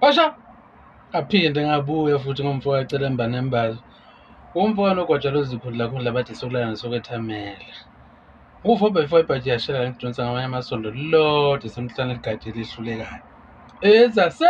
Washa aphinde ngabuya futhi ngomfo wacela embanembazo umfo wanogwaja lozikhundla khundla bathi sokulana sokwethamela Ukufa obefore ibhaji yashela ngidonsa ngamanye amasondo lilodwa esemhlane ligade elihlulekayo. Ezase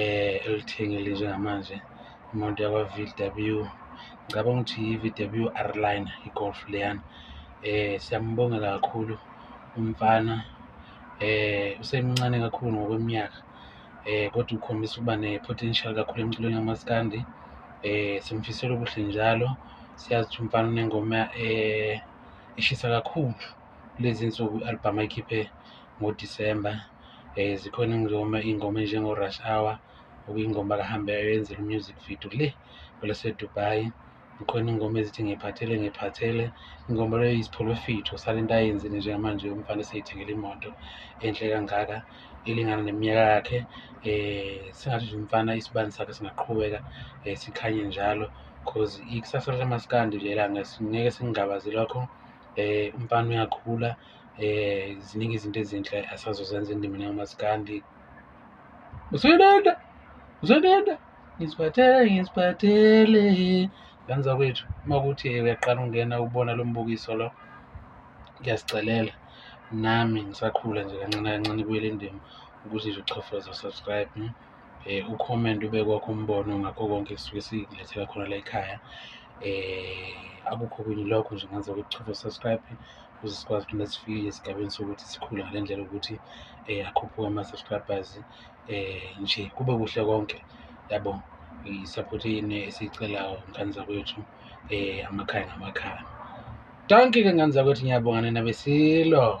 eh elithengile njengamanje imoto yakwa VW ngicabanga ukuthi yi-VW R-Line i-Golf leyana eh siyambongela kakhulu umfana eh usemncane kakhulu ngokweminyaka eh kodwa ukhombisa ukuba ne-potential kakhulu emculweni kamaskandi eh simfisela ubuhle njalo siyazi ukuthi umfana unengoma eh eshisa kakhulu kulezi nsuku i-album ayikhiphe ngoDisemba um zikhona ingoma iy'ngoma enjengo-rush hour okuyingoma akahambeyo yenzela u-music video le kwelasedubai khona ingoma ezithi ngiphathele ngiphathele ingoma leyo yisipholofithi usale into ayenzile njengamanje umfana eseyithengele imoto enhle kangaka elingana neminyaka yakhe um singathi nje umfana isibani sakhe singaqhubeka um sikhanye njalo cause ikusasa likamaskandi lelanga ngeke singingabazi lokho um umfana uyakhula um ziningi izinto ezinhle asazozenza endimini yamasikandi usenenda usenenda ngisiphathele ngisiphathele ngani zakwethu uma kuthi uyaqala ungena ubona lo mbukiso lo ngiyasicelela nami ngisakhula nje kancane kancane ibuyele indima ukuthi nje uchofoza subscribe hmm? um ucomment ube kwakho umbono ngakho konke kusuke sikulethela khona la ekhaya um akukho kunye lokho nje ngenza ukuthi chofo subscribe ukuze sikwazi ukuthi nesifikile esigabeni sokuthi sikhule ngale ndlela ukuthi um akhuphuke ama-subscribers um nje kube kuhle konke yabo i-support yini esiyicelayo ngane zakwethu um amakhaya ngamakhaya danki ke ngane zakwethu ngiyabonga nina besilo